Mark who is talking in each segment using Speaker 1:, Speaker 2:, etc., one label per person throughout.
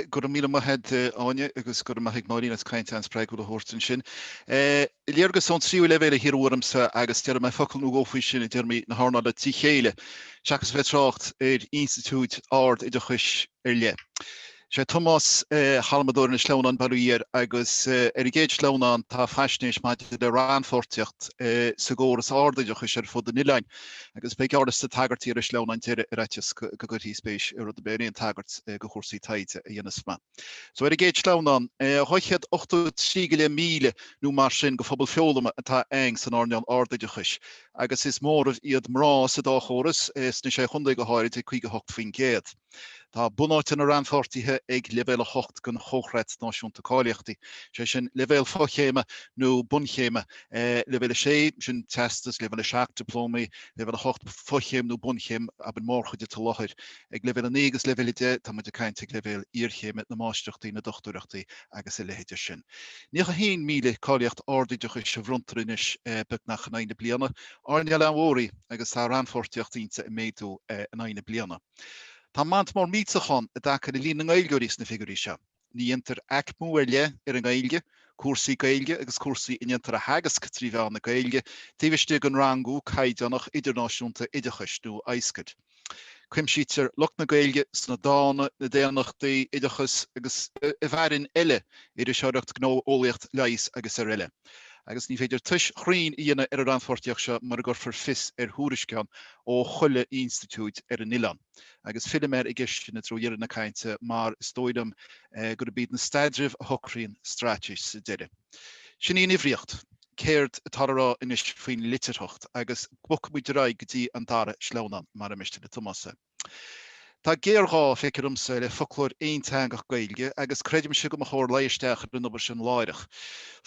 Speaker 1: Go raibh míle maith a'd Áine agus go raibh maith ag Máirín as caint an-spreagúil a thabhairt ansin. Léargas ón tríú leibhéal a hiarradh ormsa agus déarfaidh mé focal nó dhó faoi sin i dtéarmaí na hearnála trí chéile, seachas a bheith ag trácht ar institiúid ard-oideachais ar leith. Is é Tomás halmadóir na sleamhnán bail ó Dhia air agus ar an gcéad sleamhnán tá faisnéis maidir le rannpháirtíocht sa gcóras ard-oideachais ar fud an oileáin. Agus beidh fáil ar na tagairtí ar an sleamhnán deiridh ar fhaitíos go gcuirfí spéis i rud ar bith ar aon tagairt go chúrsaí taighde a dhéanfas mé. So ar an gcéad sleamhnán, 283 go leith míle nó mar sin go phobal foghlama atá ann san earnáil ardoideachais agus is móramh iad mná sa dá chóras, sna sé chontae go háirid, ag 58%. Tá bunáite na rannpháirtithe ag Leibhéal 8 den Chomhchreat Náisiúnta Cáilíochtaí, sé sin leibhéal fochéime nó bunchéime, Leibhéal 6, sin Teastas, Leibhéal 7, Dioplómaí, Leibhéal 8, fochéim nó bunchéim, áit a mbíonn an mhórchuid i láthair. Ag Leibhéal 9 agus Leibhéal 10, táimid ag caint ag leibhéal iarchéime, na Máistreachtaí, na Dochtúireachtaí agus a leithéid de sin. 91,000 cáilíocht ardoideachais a bronntar anois beagnach in aghaidh na bliana, earnáil an-mhór í agus tá rannpháirtíocht inti ag méadú in aghaidh na bliana. Tá mant mór mísheans ann i dtaca le líon na nGaeilgeoirí sna figiúirí seo. Ní dhéantar aicmiú ar leith ar an nGaeilge, cúrsaí Gaeilge agus cúrsaí a ndéantar a theagasc trí mheán na Gaeilge taobh istigh den rangú caighdeánach idirnáisiúnta oideachais nó ISCED. Cuimsítear lucht na Gaeilge sna dána, na daonnachtaí, oideachas agus, i bhfearainn eile, iriseoireacht, gnó, eolaíocht, leigheas agus ar eile. agus ní féidir tomhas cruinn a dhéanamh ar an rannpháirtíocht seo mura gcuirfear fios ar thuairisceáin ó chuile institiúid ar an oileán. Agus fillfidh mé ar an gceist sin i dtreo dheireadh na cainte mar is dóigh liom gurb iad na staidrimh a shocraíonn straitéis sa deireadh. Sin í an uimhríocht. Céard atá le rá anois faoin litearthacht? Agus bogfaimid ar aghaidh go dtí an dara sleamhnán, mura miste le Tomás é. Tá géarghá, feictear domsa, le foclóir aonteangach Gaeilge agus creidimse go mba chóir luigh isteach ar an obair sin láithreach.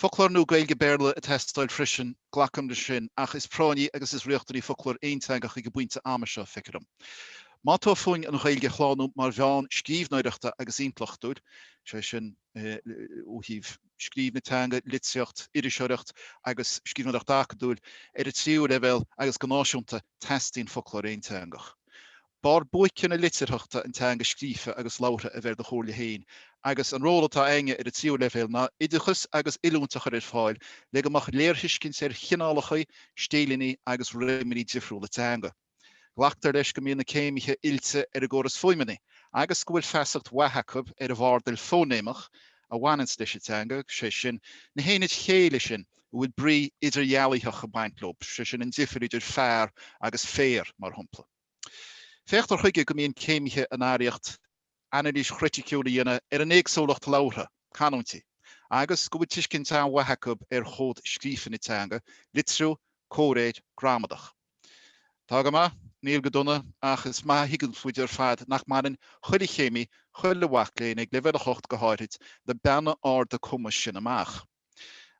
Speaker 1: Foclóir nua Gaeilge-Béarla ag teastáil freisin, glacaim le sin, ach is práinní agus is riachtanaí foclóir aonteangach ag an bpointe ama seo, feictear dom. Má tá fúinn an Ghaeilge a shlánú mar mheán scríbhneoireachta agus intleachtúil, sé sin, ó thaobh scríobh na teanga, litríocht, iriseoireacht agus scríbhneoireacht acadúil ar an tríú leibhéal agus go náisiúnta, teastaíonn foclóir aonteangach. Barr buaice na litearthachta an teanga scríofa agus labhartha a bheith ar do chomhairle féin agus an ról atá againne ar an tríú leibhéal ná oideachas agus oiliúint a chur ar fáil le go mbeadh léirthuiscint ar chineálacha, stíleannaí agus réimeannaí difriúla teanga. Glactar leis go mbíonn na céimithe oilte ar an gcóras fuaimeanna agus go bhfuil feasacht mhaith acu ar an bhfardal fóinéimeach a bhaineanns leis an dteanga, sé sin, na haonaid chéille sin a bhfuil brí idirdhealaitheach ag baint leo, sé sin, an difir idir fear agus féar, mar shompla. Féachtar chuige go mbíonn céimithe in araíocht. anailís chriticiúil a dhéanamh ar an éagsúlacht labhartha, canúintí, agus go bhfuil tuiscint an-mhaith acu ar chód scríofa na teanga, litriú, comhréir, gramadach. Tá go maith, níl go dona, ach is maith a thuigeann muid ar fad nach mbaineann chuile chéimí, chuile mhac léinn, ag Leibhéal 8 go háithrid, na beanna arda cumais sin amach.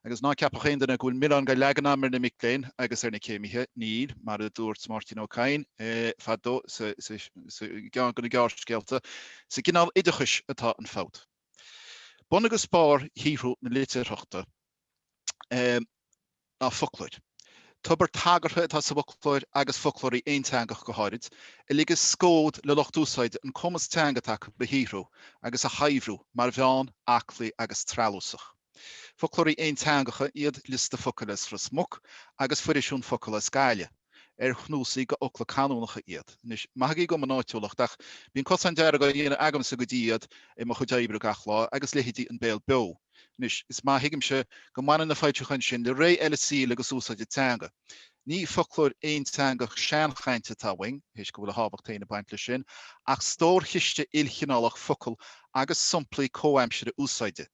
Speaker 1: Agus ná ceapadh aon duine go bhfuil milleán dhá leagan agam ar na mic léinn agus ar na céimithe, níl, mar a dúirt Máirtín Ó Cadhain eh, fadó sa gceann de na gearrscéalta, sa gcineál oideachais atá an fabht. Bun agus barr shaothrú na litearthachta. Um, ná foclóir. Tobar tagartha atá sa bhfoclóir agus foclóirí aonteangacha go háirid, a ligeas scód le lucht úsáide an cumas teanga atá acu a shaothrú agus a shaibhriú ar mhodh aclaí agus treallúsach. Foclóirí aonteangacha iad Liosta Focail as Ros Muc agus Foirisiún Focal as Gaillimh. ar cnuasaigh de fhocla canúnacha iad. Anois, maithigí dhom mo náitiúlacht, ach bíonn cosán dearg á dhéanamh agamsa go dtí iad i mo chuid oibre gach lá, agus leithéidí An Béal Beo. Anois, is maith a thuigimse go mbaineann na foilseacháin sin le ré eile saoil agus úsáide teanga. Ní foclóir aonteangach seanchainte atá uainn, théis go bhfuil a thábhacht féin ag baint leis sin, ach stórchiste ilchineálach focal agus somplaí comhaimsire úsáide.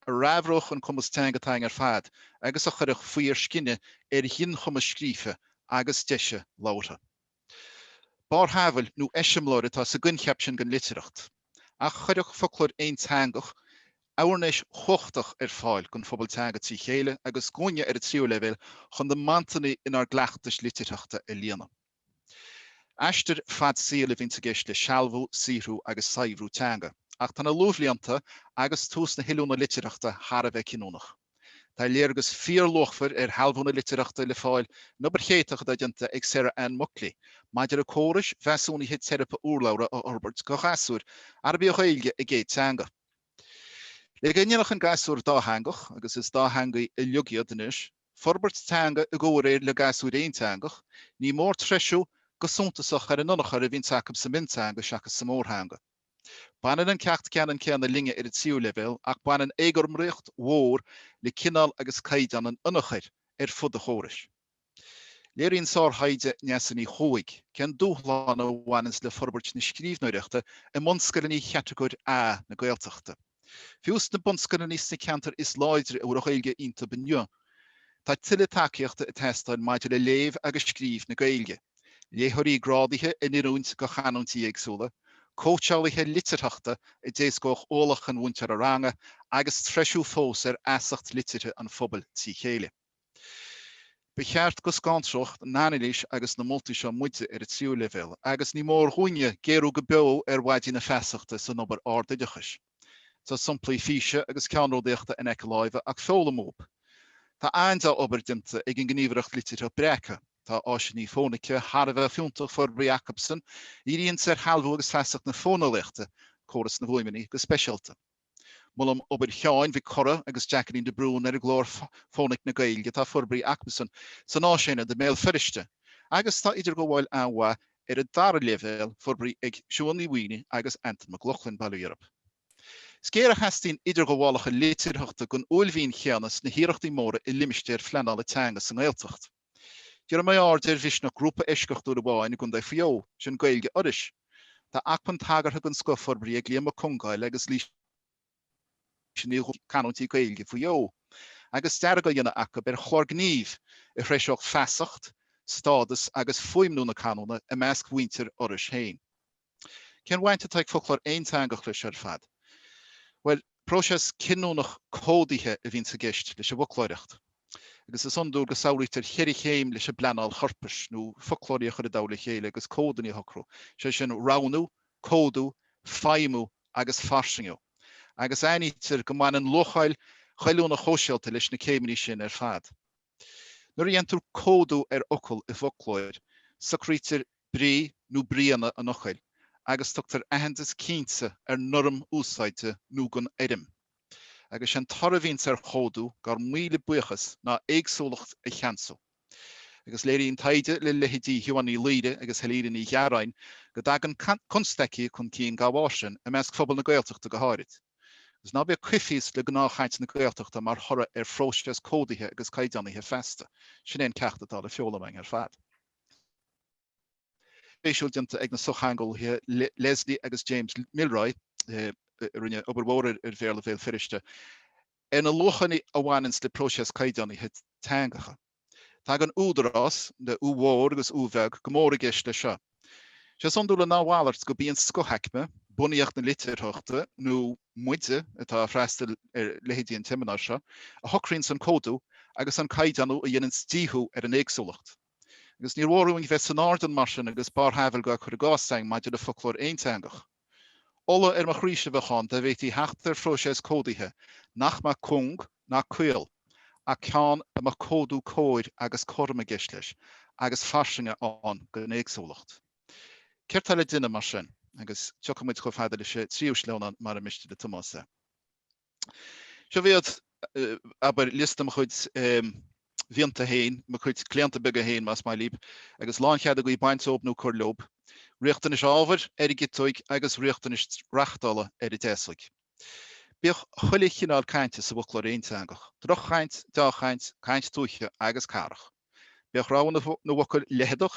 Speaker 1: a shaibhreodh an cumas teanga atá againn ar fad agus a chuirfeadh faobhar scine ar ghinchumas scríofa agus deise labhartha. Barrshamhail nó eiseamláir atá sa gcoincheap sin den litearthacht, ach chuirfeadh foclóir aonteangach áirnéis chumhachtach ar fáil don phobal teanga trí chéile agus dhúinne ar an tríú leibhéal chun na mantanna inár gcleachtais litearthachta a líonadh. Aistear fad saoil a bhíonns i gceist le sealbhú, saothrú agus saibhriú teanga, ach tá na luathbhlianta agus tús na hoiliúna litearthachta thar a bheith cinniúnach. Tá léargas fíorluachmhar ar shealbhú na litearthachta le fáil in obair cheannródaíoch atá déanta ag Sarah Anne Muckley maidir le córais mheasúnaithe teiripe urlabhra a fhorbairt do ghasúir arb í an Ghaeilge a gcéad teanga. Le go ndéanfadh an gasúr dátheangach, agus is dátheangaigh uilig iad anois, forbairt teanga i gcomhréir le gasúr aonteangach, ní mór treisiú go suntasach ar an ionchur a bhíonns acu sa mhionteanga seachas sa mórtheanga. Baineann an ceacht ceannann céanna linne ar an tríú leibhéal ach baineann éagothromaíocht mhór le cineál agus caighdeán an ionchuir ar fud an chórais. Léiríonn sárthaighde Neasa Ní Chuaig cén dúshlán a bhaineanns le forbairt na scríbhneoireachta i mbunscoileanna Chatagóir A na Gaeltachta. Fiú sna bunscoileanna ins na ceantair is láidre a bhfuil an Ghaeilge iontu inniu, tá tuilleadh tacaíochta ag teastáil maidir le léamh agus scríobh na Gaeilge, léitheoirí grádaithe in oiriúint do chanúintí éagsúla, cóitseálaithe litearthachta a d'éascódh ualach an mhúinteora ranga agus treisiú fós ar fheasacht liteartha an phobail trí chéile. Ba cheart go scanródh an anailís agus na moltaí seo muide ar an tríú leibhéal agus ní mór dhúinne géarú go beo ar mhaidí na feasachta san obair ardoideachais. Tá somplaí físe agus ceannródaíochta in aice láimhe ach foghlaim uathub. Tá an-dea-obair déanta ag an Gníomhaireacht Litearthachta Breacadh. Tá áiseanna fónaice thar a bheith fiúntach forbraithe acubsan, díríonn siad ar shealbhú agus feasacht na fóineolaíochta, córas na bhfuaimeanna go speisialta. Molaim obair Sheáin Mhic Corraidh agus Jacqueline de Brún ar an gclár Fónaic na Gaeilge atá forbraithe acubsan san Áisaonad i mBéal Feirste agus tá idirghabháil an-mhaith ar an dara leibhéal forbraithe ag Siuán Ní Mhaonaigh agus Antain Mac Lochlainn, bail ó Dhia orthub. Is géar a theastaíonn idirghabhálacha litearthachta den uaillmhian chéanna sna hiarrachtaí móra i limistéir phleanála teanga sa nGaeltacht. Díreoidh mé aird ar mhisneach grúpa eisceachtúil amháin i gContae Mhaigh Eo, sin Gaeilge Iorrais. Tá acmhainn tagartha den scoth forbraithe ag Liam Mac Congáil agus Laoise Ní Dhúda, canúintí Gaeilge Mhaigh Eo, agus dearadh á dhéanamh acu ar chlár gnímh a threiseodh feasacht, stádas agus fuaimniú na canúna i measc mhuintir Iorrais féin. Cén bhaint atá ag foclóir aonteangach leis seo ar fad? Bhuel, próiseas cinniúnach códaithe a bhíonns i gceist leis an bhfoclóireacht. Agus is iondúil go samhlaítear cheithre chéim leis an bpleanáil chorpais, nó foclóirí a chur i dtoll a chéile agus códanna a shocrú, sé sin, roghnú, códú, feidhmiú agus fairsingiú. Agus aithnítear go mbaineann luacháil ghoilliúnach shóisialta leis na céimeanna sin ar fad. Nuair a dhéantar códú ar fhocal i bhfoclóir, socraítear brí nó bríonna an fhocail agus tugtar aitheantas cinnte ar norm úsáide nó don fhoirm. Agus sé'n toradh a bhíonns ar chódú, dár míle buíochas, ná éagsúlacht a cheansú. Agus léiríonn taighde le leithéidí Shiobhán Ní Laoire agus Helena Ní Ghearáin go dtagann constaicí chun cinn dá bharr sin, i measc phobal na Gaeltachta go háirid. Agus ná bíodh coimhthíos le gnáthchaint na Gaeltachta mar thoradh ar phróiseas códaithe agus caighdeánaithe feasta, sin é an ceacht atá le foghlaim againn ar fad. spéisiúil déanta ag na sochtheangeolaithe Leslie agus James Milroy a rinne obair mhór ar Bhéarla Bhéal Feirste ar na luachanna a bhaineanns le próiseas caighdeánaithe teangacha. Tagann údarás, le ú mhór agus ú bheag, go mór i gceist leis seo. Is é is iondúla ná a mhalairt gurb í an scothaicme, bunaíocht na litearthachta, nó muide atá ag freastal ar leithéidí an tseimineáir seo, a shocraíonns an códú agus an caighdeánú a dhéananns díothú ar an éagsúlacht. Agus níor mhór dúinn bheith san airdeall mar sin agus barrshamhail á cur i gcás againn maidir le foclóir aonteangach. Ola ar mo chroíse a bheadh ann dá bhféadfaí theacht ar phróiseas códaithe nach mbeadh cúng ná caol, ach ceann a mbeadh códú cóir agus cothrom i gceist leis, agus fairsinge ann don éagsúlacht. Céard tá le déanamh mar sin? Agus tiocfaidh muid chomh fada leis an tríú sleamhnán mura miste le Tomás é. Seo iad, abair,, liosta mo chuid mianta féin, mo chuid claonta beaga féin, más maith libh, agus lánchead agaibh baint dóibh nó cur leo, riachtanais ábhair ar an gciotóig agus riachtanais reachtála ar an deasóig. Bíodh chuile chineál cainte sa bhfoclóir aonteangach, drochchaint, dea-chaint, caint tuaithe agus cathrach. Bíodh rogha na bhfocal leitheadach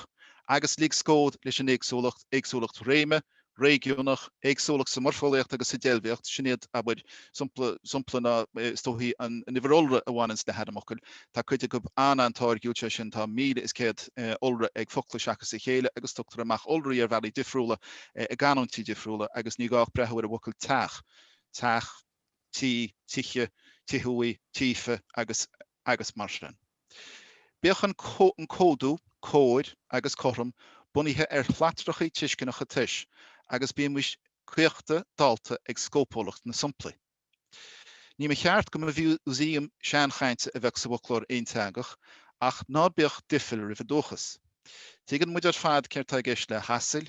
Speaker 1: agus lig scód leis an éagsúlacht, éagsúlacht réime, réigiúnach, éagsúlacht sa mhoirfeolaíocht agus sa deilbhíocht, sin iad, abair, somplaí, na stóir, an uimhir iolra a bhaineanns le hainmfhocail. Tá cuid acu an-an-táirgiúil, sé sin, tá míle is céad iolra ag focla seachas a chéile agus tugtar amach iolraí ar bhealaí difriúla i gcanúintí difriúla agus ní gá ach breathú ar an bhfocal teach, teach, tí, tighe, tithe uaidh, títhe agus. agus mar sin. Bíodh an códú cóir agus cothrom bunaithe ar shlatrachaí tuisceanacha tomhais agus bímis caochta dallta ag scópúlacht na somplaí. Ní ba cheart go mba mhúsaem seanchainte a bheadh sa bhfoclóir aonteangach ach ná bíodh doicheall roimh an dúchas. Tuigeann muid ar fad céard tá i gceist le hasail,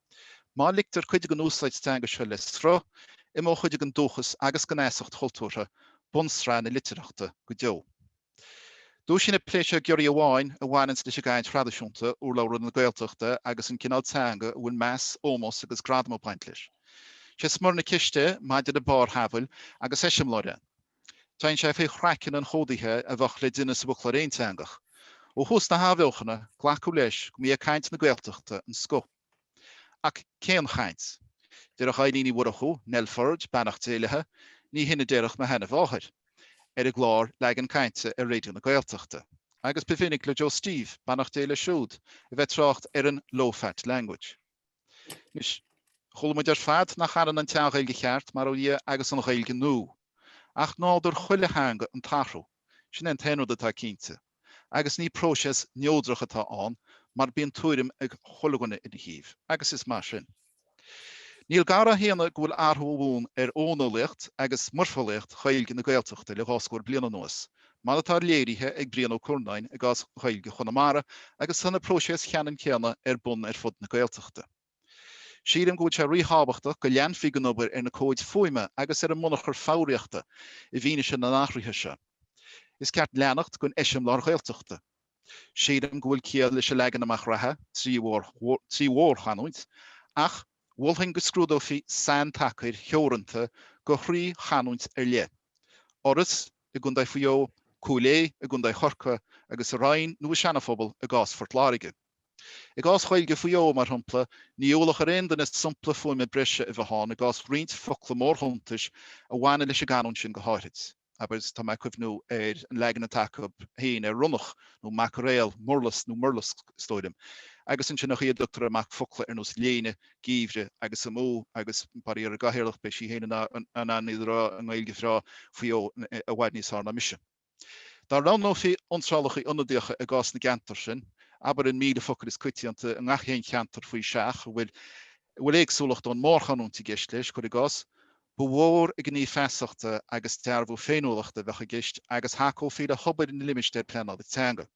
Speaker 1: Má ligtear cuid den úsáid teanga seo le sruth, imeoidh cuid den dúchas agus den fheasacht chultúrtha, bunsraith na litearthachta, go deo. Dúisíonn an plé seo giorria amháin a bhaineanns leis an gcaint thraidisiúnta, urlabhra na Gaeltachta agus an cineál teanga a bhfuil meas, ómós agus gradam ag baint leis. Sé smior na ceiste, maidir le barrshamhail agus eiseamláir, an. Téann sé fé chraiceann an chódaithe a bheadh le déanamh sa bhfoclóir aonteangach. Ó thús na hathbheochana, glacadh leis go mba é caint na Gaeltachta an scoth. Ach cén chaint? Déarfadh Eibhlín Uí Mhurchú, Nell Forde, beannacht Dé léithi, ní hin a déarfadh mo sheanamháthair. Ar an gclár Leagan Cainte ar Raidió na Gaeltachta, agus ba mhinic le Joe Steve, beannacht Dé leis siúd, a bheith trácht ar an 'low fat language'. Anois, chuala muid ar fad nach ionann an dea-Ghaeilge cheart, mar dhea, agus an Ghaeilge nua. Ach nádúr chuile theanga an t-athrú. Sin é an t-aon rud atá cinnte. Agus ní próiseas neodrach atá ann mar bíonn tuairim ag chuile dhuine ina thaobh. Agus is maith sin. Níl gar á shéanadh go bhfuil athrú ar bun ar fhóineolaíocht agus moirfeolaíocht Ghaeilge na Gaeltachta le dhá scór bliain anuas mar atá léirithe ag Brian Ó Curnáin i gcás Ghaeilge Chonamara agus tá na próisis cheannann céanna ar bun ar fud na Gaeltachta. Sílim go bhfuil sé rí-thábhachtach go leanfaí den obair ar na comhaid fuaime agus ar an mbunachar foghraíochta i bhfianaise na n-athruithe seo. Is ceart leanacht den eiseamláir Ghaeltachta. Sílim go bhfuil ciall leis an leagan amach reatha, trí mhórchanúint, ach mholfainn go scrúdófaí saintacair theoranta do thrí chanúint ar leith. Fhoras na. i gContae Mhaigh Eo, Cúil Aodha i gContae Chorcaí agus sa Rinn nó i Seanaphobal i gcás Phort Láirge. I gcás Ghaeilge Mhaigh Eo, mar shompla, ní ualach ar aon duine sompla fuaime breise a bheith ann i gcás roinnt focla mórshuntais a bhaineann leis an gcanúint sin go háithrid, abair, tá mé ag cuimhniú ar an leagan atá acu féin ar ronnach nó maicréal, murlas nó murlasc, is dóigh liom, agus ansin an chaoi a dtugtar amach focla ar nós léine, geimhreadh agus amú agus, bail ó Dhia ar an gcathaoirleach, beidh sí féin in ann iad a rá i nGaeilge bhreá Mhaigh Eo i bhfad níos fearr ná mise. Dá roghnófaí iontrálacha ionadaíocha i gcás na gceantar sin, abair an míle focal is coitianta i ngach aon cheantar faoi seach, a bhfuil a bhfuil éagsúlacht ón mórchanúint i gceist leis, cuir i gcás, ba mhór an gníomh feasachta agus dearbhú féiniúlachta a bheadh i gceist agus thacófaí le hobair na limistéar pleanála teanga.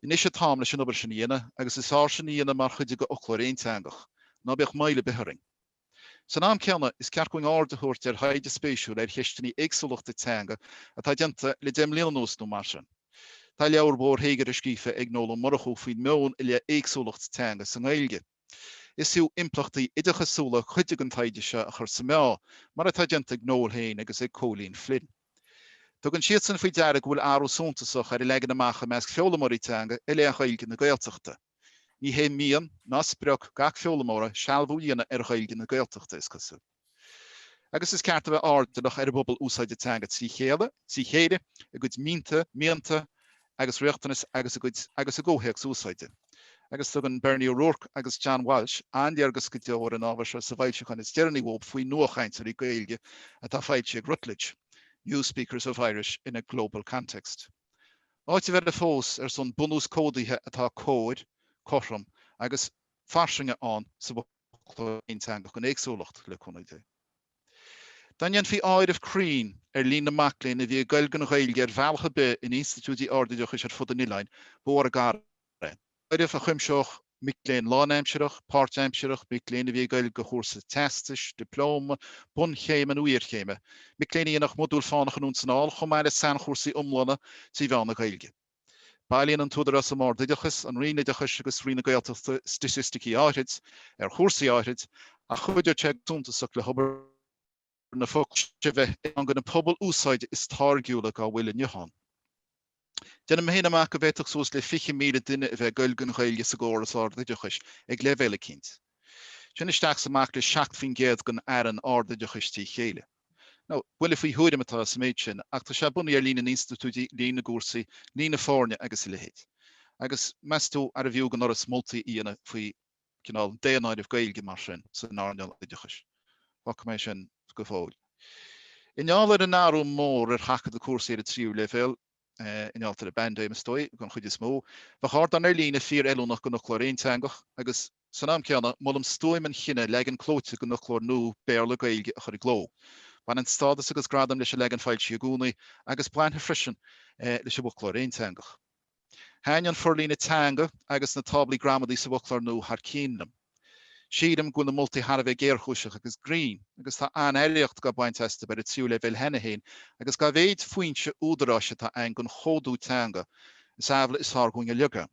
Speaker 1: Anois an t-am leis an obair sin a dhéanamh agus is fearr sin a dhéanamh mar chuid de fhoclóir aonteangach, ná bíodh moill ar bith orainn. San am céanna, is ceart dúinn aird a thabhairt ar thaighde spéisiúil ar cheisteanna éagsúlachta teanga atá déanta le deich mbliana anuas nó mar sin. Tá leabhar mhór théagartha scríofa ag Noel Ó Murchadha faoin meon i leith éagsúlacht teanga sa nGaeilge. Is fiú impleachtaí oideachasúla cuid den taighde seo a chur sa meá, mar atá déanta ag Noel féin agus ag Cóilín Flynn. Tugann siadsan faoi deara go bhfuil athrú suntasach ar an leagan amach i measc foghlaimeoirí teanga i leith Ghaeilge na Gaeltachta. Ní hé mian ná sprioc gach foghlaimeora sealbhú a dhéanamh ar Ghaeilge na Gaeltachta, is cosúil. Agus is ceart a bheith airdeallach ar an bpobal úsáide teanga trí chéile, trí chéile, a gcuid mínta, mianta agus riachtanais agus a gcuid agus a gcomhthéacs úsáide. Agus tugann Bernie O'Rourke agus John Walsh an-léargas go deo ar an ábhar seo sa bhfoilseachán is deireanaí uathu faoi nuachainteoirí Gaeilge atá foilsithe ag Routledge, New Speakers of Irish in a Global Context. Áiteamh eile fós ar son bunús códaithe atá cóir, cothrom agus fairsing insa bhfoclóir. aonteangach an éagsúlacht le cúnamh Dé. Dá ndéanfaí áireamh cruinn ar líon na mac léinn a bhí ag goil den Ghaeilge ar bhealach ar bith in institiúidí ardoideachais ar fud an oileáin, ba mhór an gar é. Áireamh a chuimseodh mic léinn lánaimsearach, páirtaimsearach, mic léinn a bhí ag goil de chúrsa teastais, dioplóma, bunchéime nó iarchéime, mic léinn a dhéanfadh modúil fánach anonn is anall chomh maith le sainchúrsaí iomlána trí mheán na Gaeilge. Bailíonn an tÚdarás um Ard-Oideachas, an Roinn Oideachais agus Roinn na Gaeltachta staitisticí áithrid ar chúrsaí áithrid ach chuideodh sé go suntasach le hobair na fochoiste a bheith ann do na pobail úsáide is táirgiúla dá bhfuil inniu ann. Déanaim féin amach go bhféadfadh suas le 20,000 duine a bheith ag goil den Ghaeilge sa gcóras ard-oideachais ag leibhéal eicínt. Sin isteach is amach le 7 faoin gcéad den fhearann ard-oideachais trí chéile. nó buille faoi thuairim atá sa méid sin, ach tá sé bunaithe ar líon na n-institiúidí, líon na gcúrsaí, líon na foirne agus a leithéid. Agus meas tú arbh fhiú don Fhoras moltaí a dhéanamh faoi, cineál, daonáireamh Gaeilge mar sin san earnáil oideachais? Fágfaidh mé sin go fóill. I ngeall ar an athrú mór ar sheachadadh cúrsaí ar an tríú leibhéal, i ngeall ar an bpaindéim, is dóigh, den chuid is mó, bheadh ardán ar líne fíor-fheiliúnach don fhoclóir aonteangach agus, San am céanna, molaim stuaim an chinnidh leagan clóite den fhoclóir nua Béarla-Gaeilge a chur i gcló. Baineann stádas agus gradam leis an leagan foilsithe i gcónaí, agus bainfidh freisin leis an bhfoclóir aonteangach. Thaitin an forlíonadh teanga agus na táblaí gramadaí sa bhfoclóir nua thar cionn liom. Sílim go bhfuil na moltaí thar a bheith géarchúiseach agus grinn, agus tá an-éifeacht á baint astu ar an tríú leibhéal cheana féin agus dá mhéad foinse údaráis atá ann don chódú teanga, is amhlaidh is fearr dúinn ar a laghad.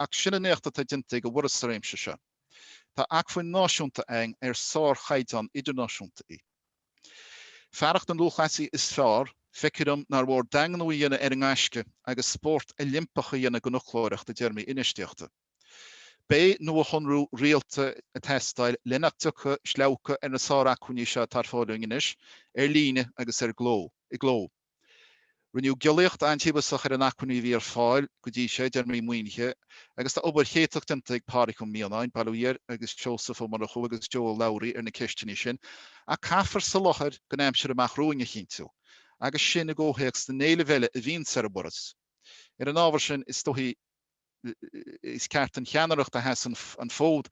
Speaker 1: Ach sin an éacht atá déanta ag an bhForas sa réimse seo. Tá acmhainn náisiúnta ann ar sár chaighdeán idirnáisiúnta í. Fearacht na lúthchleasaí is fearr, feictear dom nár mhór daingniú a dhéanamh ar an ngaisce agus spórt Oilimpeach a dhéanamh den fhoclóireacht i dtéarmaí infheistíochta. Beidh nuashonrú rialta ag teastáil le nach dtiocfaidh sleabhcadh ar na sár-acmhainní seo atá ar fáil dúinn anois, ar líne agus ar cló i gcló. Rinneadh giollaíocht an-tíobhasach ar na hacmhainní a bhí ar fáil go dtí seo, i dtéarmaí maoinithe, agus tá obair éachtach déanta ag Pádraic Ó Mianáin, bail ó Dhia air, agus Seosamh Ó Murchú agus Joe Ó Labhraí ar na ceisteanna sin, ach caithfear soláthar don aimsir amach romhainn a chinntiú, agus sin i gcomhthéacs na n-éileamh eile a bhíonns ar an bhforas. Ar an ábhar sin, is dóigh. is ceart an cheannaireacht a sheas an fód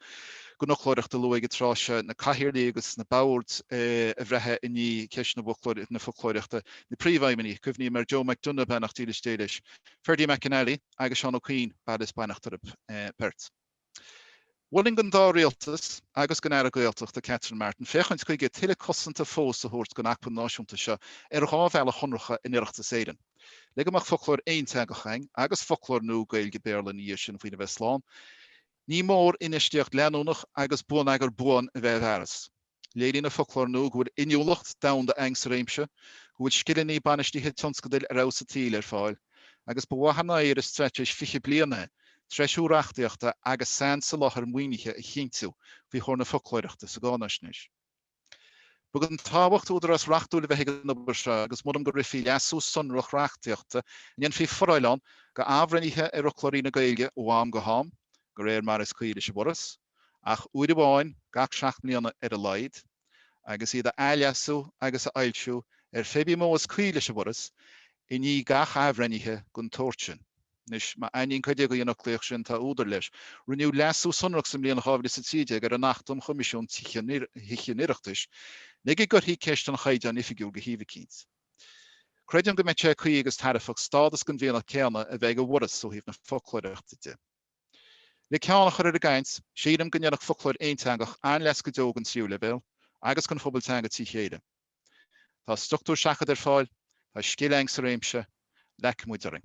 Speaker 1: don fhoclóireacht a lua ag an tráth seo, na cathaoirligh agus na boird a bhreathnaigh i ndiaidh cheist na foclóireachta, na príomhfheidhmeannaigh, cuimhním ar Joe McDonagh, beannacht dílis Dé leis, Ferdie Mac an Fhailigh agus Seán Ó Coinn, bail is beannacht orthu beirt. Mholfainn don dá rialtas agus don Aire Gaeltachta, Catherine Martin, féachaint chuige tuilleadh cosanta fós a thabhairt don acmhainn náisiúnta seo ar dhá bhealach shonracha in Oireachtas Éireann. Le go mbeadh foclóir aonteangach againn, agus foclóir nua Gaeilge-Béarla ina dhiaidh sin faoina mbeidh slán, ní mór infheistíocht leanúnach agus bonneagar buan a bheith i bhfearas. Léiríonn an foclóir nua go bhfuil inniúlacht domhanda againn sa réimse, go bhfuil scileanna bainistithe tionscadail ar fheabhas an tsaoil ar fáil, agus ba mhaith an áirithe i straitéis 20 bliain é treisiú reachtaíochta agus sainsoláthar maoinithe a chinntiú faoi chomhair na foclóireachta sa gcáinaisnéis. Ba den tábhacht údarás reachtúil a bheith ag an obair seo agus molaim go rithfí leasú sonrach reachtaíochta a ndéanfaí foráil ann do athbhreithnithe ar fhoclóirí na Gaeilge ó am go ham, go réir mar is cuí leis an bhForas. ach uair amháin gach seacht mbliana ar a laghad, agus iad a athleasú agus a fhoilsiú ar cibé modh is cuí leis an bhForas i ndiaidh gach athbhreithnithe den tsórt sin. Anois, má aithníonn cuid agaibh an fhoclaíocht sin, tá údar leis. Rinneadh leasú sonrach sa mbliain 2013 ar an Acht um Choimisiún Tithíochta an Oireachtais le go gcuirfí ceist an Chaighdeáin Oifigiúil de thaobh eicínt. Creidim go mbeidh sé cuí agus tairbheach stádas den mhianach céanna a bheith ag an bhForas ó thaobh na foclóireachta de. Le ceann a chur ar an gcaint, sílim go ndéanfadh foclóir aonteangach an-leas go deo don tríú leibhéal agus don phobal teanga trí chéile. Tá struchtúr seachadta ar fáil, tá scil againn sa réimse, leagfaidh muid orainn.